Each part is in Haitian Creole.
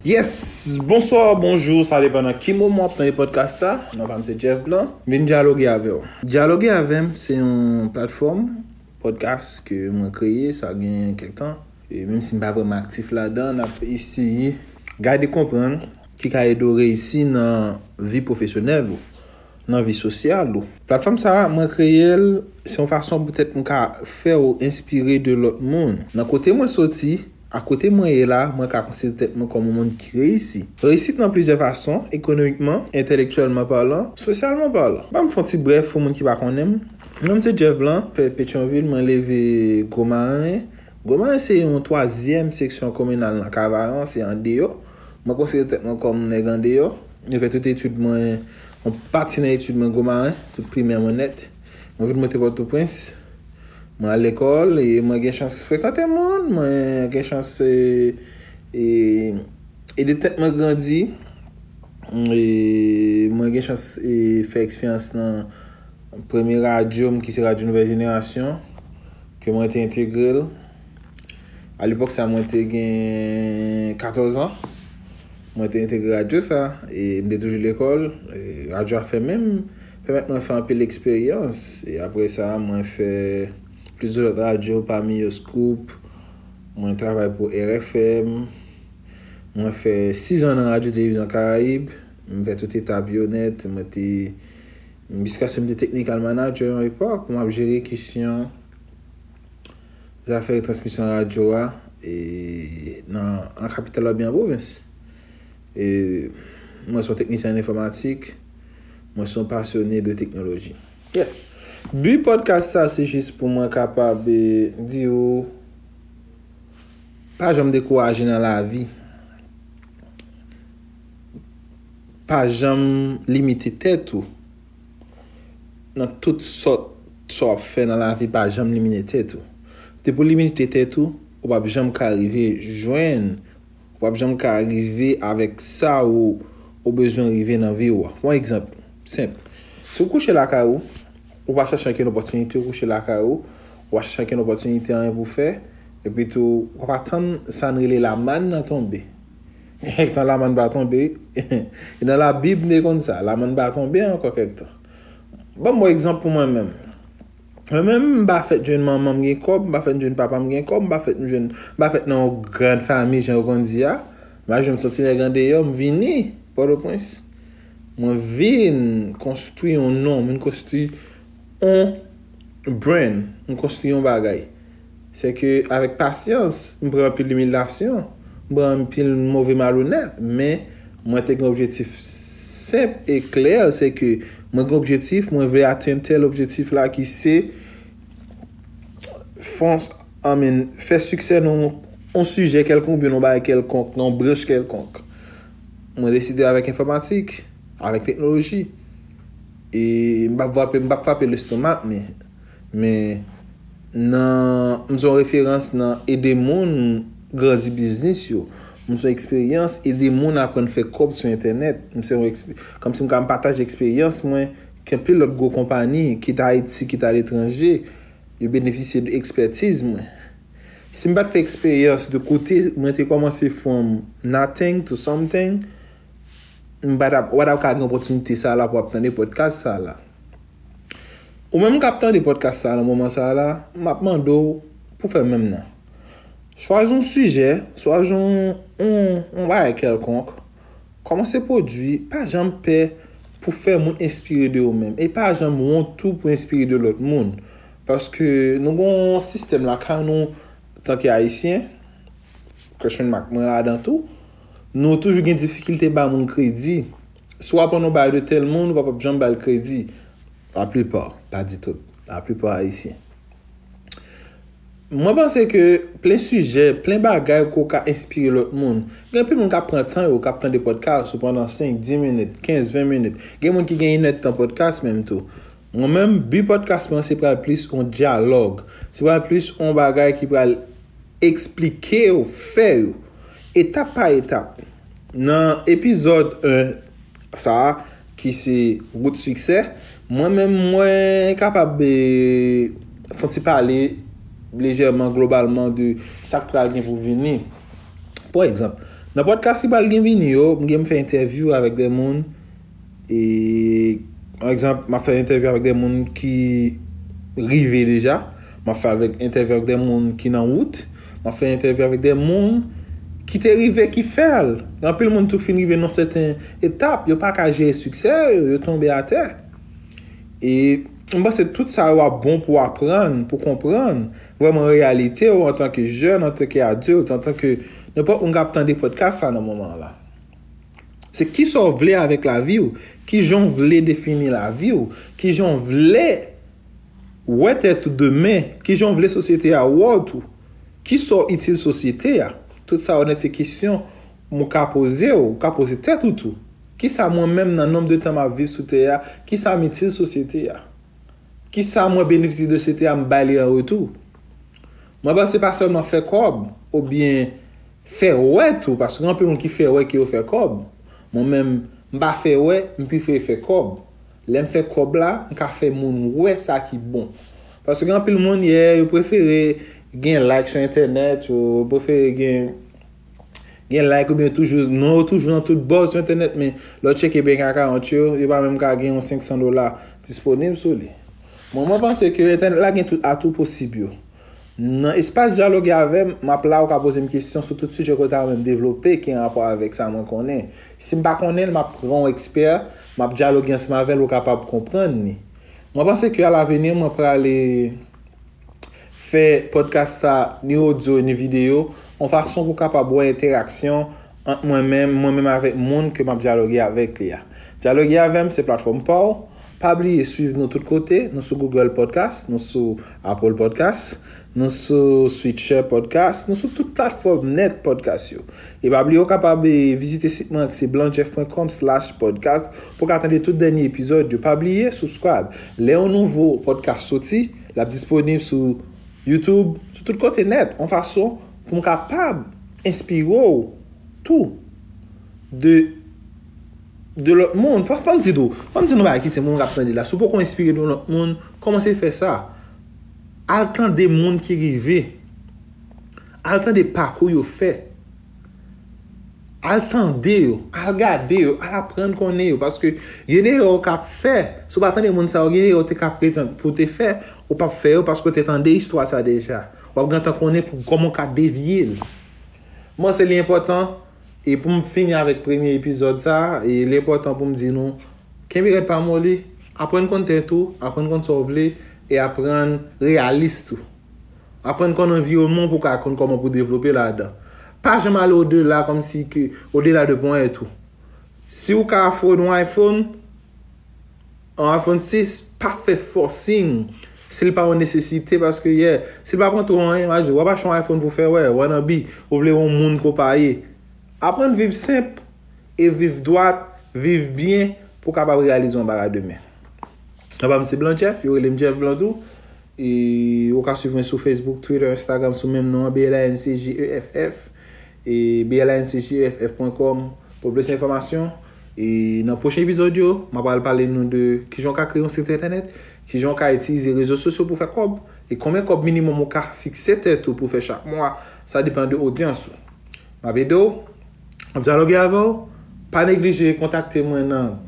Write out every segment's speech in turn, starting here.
Yes! Bonswa, bonjou, sa depan nan ki moman w ap tande pòdkas sa. Non pa m se Jeff Blanc. M vin dyaloge avè w. Dyaloge avè m se yon platfòm pòdkas ke mwen kreye sa gen kèk tan. E menm si m pa vrèman aktif ladan, n ap eseye gade konprann ki ka ede w reyisi nan vi pwofesyonèl ou. nan vi sosyal ou. Platfòm sa a, mwen kreye l, se yon fason poutèt m ka fè w enspire de lòt moun. Nan kote mwen soti, ak kote mwen ye la, mwen ka konsidere tèt mwen kòm yon moun ki reyisi. Reyisit nan plizyè fason, ekonomikman, entèlektyèlman palan, sosyalman palan. Ban m fè yon ti brèf pou moun ki pa konnen m. Non m se Jeff Blanc, fèt Petyonvil, mwen leve Gwo Maren. Gwo Maren se yon twazyèm seksyon kominal nan Kavayon, se andeyo Mwen konsidere tèt mwen kòm nèg andeyò. Mwen fè tout etid mwen, yon pati nan etid mwen Gwo-Maren, tout primè mwen nèt. Mwen vin monte Pòtoprens, mwen al lekòl e mwen gen chans frekante moun, mwen gen chans ede tèt mwen grandi e mwen gen chans fè eksperyans nan premye radyo m ki se Radyo Nouvèl Jenerasyon ke mwen te entegre l. A lepòk sa mwen te gen 14 an. Mwen te entegre radyo sa. E m te toujou lekòl. Radyo a fèmen. M pèmèt mwen fè anpil eksperyans. E apre sa mwen fè plis de lòt radyo pami yo Scoop. Mwen travay pou RFM. Mwen fè 6 an nan radyo televizyon karayib. M fè tout etap yo nèt. Mwen te jiskaske m te teknikal manager yon epòk. M ap jere kesyon. zafè retransmisyon radyo a nan an kapital la oubyen an pwovens. Mwen son teknisyen an enfòmatik, mwen son pasyone de teknoloji. Yes! Bi podcast sa se jis pou mwen kapab di ou pa janm dekouraje nan lavi. Pa janm limite tèt ou. nan tout sòt sa wap fè nan lavi pa janm limine tèt ou depi ou limite tèt ou ou pap janm ka rive jwenn ou pap janm ka rive avèk sa ou ou bezwen rive nan vi ou pwan egzanp senp si ou kouche lakay ou ou pa chache ankenn opòtinite ou kouche lakay ou ou pa chache ankenn opòtinite anyen pou fè epitou wap atann sa n rele lamann nan tonbe. Kèk tan lamann pa tonbe. E nan labib m te konn sa. Lamann pa tonbe ankò kèk tan. Banm bon egzanp pou mwen menm. Mwen menm m pa fèt jwenn manman m gen kòb, m pa fèt jwenn papa m gen kòb, m pa fèt m jwenn, m pa fèt nan yon grand fami jan yo konn di a. M pa janm son ti nèg andeyò, m vini Pòtoprens. Mwen vin konstwi yon non, m vin konstwi yon brand, m konstwi yon bagay. Se ke avèk pasyans, m pran anpil imilyasyon, m pran anpil move malonèt, men mwen te gen objetif senp e klè, se ke mwen gen objetif, mwen vle atenn tèl objetif la ki se fons an min fè siksè nan yon sijè kèlkonk oubyen nan yon bagay kèlkonk, nan yon branch kèlkonk. Mwen deside avèk enfòmatik, avèk teknoloji e m pa frape, m pa frape lestomak men. Men, nan M se yon referans nan ede moun grandi biznis yo. M se yon eksperyans ede moun aprann fè kòb sou entènèt. M se yon ekspe, kòmsi m ka pataje eksperyans mwen ke anpil lòt gwo konpani, kit Ayiti, kit aletranje, yo benefisye de ekspètiz mwen. Si m pa t fè eksperyans de kote mwen te kòmanse from nothing to something, Mpa tap, ou pa tap ka gen opòtinite sa a la pou ap tande pòdkas sa a la. Ou menm kap tande pòdkas sa a nan moman sa a la, map mande w pou fè menm nan. Chwazi yon sijè, chwazi yon, yon bagay kèlkonk, kòmanse pwodui, pa janm pè pou fè moun enspire de ou menm. E pa janm wont tou pou enspire de lòt moun. Paske nou gen yon sistèm lakay nou, tanke Ayisyen, Christian Marc mwen ladan tou, Nou toujou gen difikilte ba moun kredi. Si w aprann yon bagay de tèl moun, w pa p ap janm ba l kredi. Laplipa, m pa di tout, laplipa Ayisyen. Mwen panse ke plen sijè, plen bagay ke w ka enspire lòt moun. Gen anpil moun k ap pran tan yo, k ap tande pòdkas ou pandan 5, 10 minit, 15, 20 minit. Gen moun ki gen inèdtan pòdkas menm tou. Mwen menm, bi pòdkas mwen se pral plis yon dyalòg. Se pral plis yon bagay ki pral Eksplike yo, fè yo, etap pa etap. Nan epizòd 1 sa a ki se wout siksè, mwen menm mwen kapab fon ti pale lejèman globalman de sa k pral gen pou vini. Pa egzanp, nan pòdkas ki pral gen vini yo, m gen pou m fè entèvyou avèk de moun E pa egzanp, m ap fè entèvyou avèk de moun ki rive deja, m ap fè avèk entèvyou avèk de moun ki nan wout, m ap fè entèvyou avèk de moun ki te rive ki fè l. Gen anpil moun tou ki fin rive nan yon sèten etap, yo pa ka jere siksè yo, yo tonbe atè. E m panse tout sa yo ap bon pou w aprann, pou w konprann vrèman reyalite w antanke jèn, antanke adilt, antanke nenpòt moun k ap tande pòdkas sa nan moman an la. Se kisa w vle avèk lavi w, kijan w vle defini lavi w, kijan w vle wè tèt ou demen, kijan w vle sosyete a wè w tou, kisa w itil sosyete a. Tout sa yo nèt se kesyon ou ka poze w, ou ka poze tèt ou tou. Kisa mwen menm nan nonb de tan m ap viv sou tè a, kisa m itil sosyete a? Kisa mwen benefisye de sosyete a m bay li an retou? Mwen panse pa sèlman fè kòb ou byen fè wè tou paske gen anpil moun ki fè wè ke yo fè kòb. Mwen menm, m pa fè wè, m prefere fè kòb. Lè m fè kòb la, m ka fè moun wè sa ki bon. Paske gen anpil moun, yeah, yo prefere gen like sou entènèt, yo prefere gen. Gen like ou byen toujou, non yo toujou nan tout bò sou entènèt men lè w tcheke bank account yo, yo pa menm ka gen yon 500 dola disponib sou li. Mwen mwen panse ke entènèt la gen tout atou posib yo. Nan espas dyaloge avè m, m ap la ou ka poze m kesyon sou tout sijè ke w ta renmen m devlope ki an rapò avèk sa mwen konnen. Si m pa konnen l, m ap pran yon ekspè, m ap dyaloge ansanm avè l ou kapab konprann li. Mwen panse ke alaveni mwen prale. fè podcast sa ni audio ni video yon fason pou kapab wè entèraksyon ant mwen menm, mwen menm avèk moun ke map dyaloge avèk li a. Dyaloge avèm se platfòm paw, pa bliye swiv nou tout kote, nou sou Google podcast, nou sou Apple podcast, nou sou Switcher podcast, nou sou tout platfòm nèt podcast yo. E pa bliye ou kapab vizite sit mwen an ki se blancjeff.com slash podcast pou ka tande tout dènye epizòd yo. Pa bliye subscribe, lè yon nouvo podcast soti. L ap disponib sou YouTube, sou tout kote nèt, yon fason pou m kapab enspire w tou de de lòt moun. Fò m di tou, fò m di yon bagay ki senp pou moun k ap tande la, si w poko enspire de yon lòt moun, kòmanse fè sa. Al tande moun ki rive, al tande pakou yo fè. Al tande yo, al gade yo, al aprann konnen yo. Paske gen erè ou kap fè, si ou pa tande moun sa yo, gen erè ou te ka prezan pou te fè, ou pap fè yo paske ou te tande istwa sa deja. Wap gentan konnen pou kòman ou ka devye l. Mwen se li enpòtan, e pou m fini avèk premye epizòd sa, e li enpòtan pou m di nou, kenbe rèd pa moli, aprann konn tèt ou, aprann konn sa ou vle, e aprann reyalis tou. Aprann konn anviwonman w pou w ka konn kòman pou w devlope ladan. Pa janm ale odela kòm si ke, odela de ponyèt ou. Si w ka afòd yon iPhone, yon iPhone 6, pa fè fòsing si l pa yon nesesite paske yè, si l pa pran twò anyen, w'a di w ap achte yon iPhone pou fè wè, wannabe, ou vle yon moun ke w pa ye. Aprann viv senp e viv dwat, viv byen pou w kapab reyalize yon bagay demen. Papa m se Blanchèf, yo rele m Chèf Blan tou. Ou ka swiv mwen sou Facebook, Twitter, Instagram sou menm non an BLANCJEFF e BLANCJEFF pwen kòm pou plis enfòmasyon. E nan pwochen epizòd yo, mwen pral pale nou de kijan ou ka kreye yon sit entènèt, kijan ou ka itilize rezo sosyo pou fè kòb, e konbyen kòb minimòm ou ka fikse tèt ou pou fè chak mwa, sa depan de odyans ou. M ap ede w! Map dyaloge avè w, pa neglije kontakte mwen nan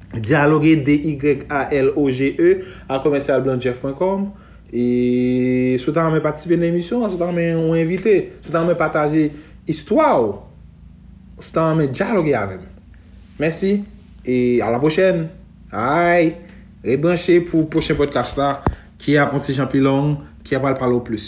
Dialoge D-Y-A-L-O-G-E a commercial blanjeff pwen kòm e si w ta renmen patisipe nan emisyon an, si w ta renmen yon envite, si w ta renmen pataje istwa w, si w ta renmen dyaloge avè m. Mèsi e a la pwochèn. Ayy! Ret branche pou pwochen podcast la ki ap yon ti jan pi long, ki ap pral pale w plis.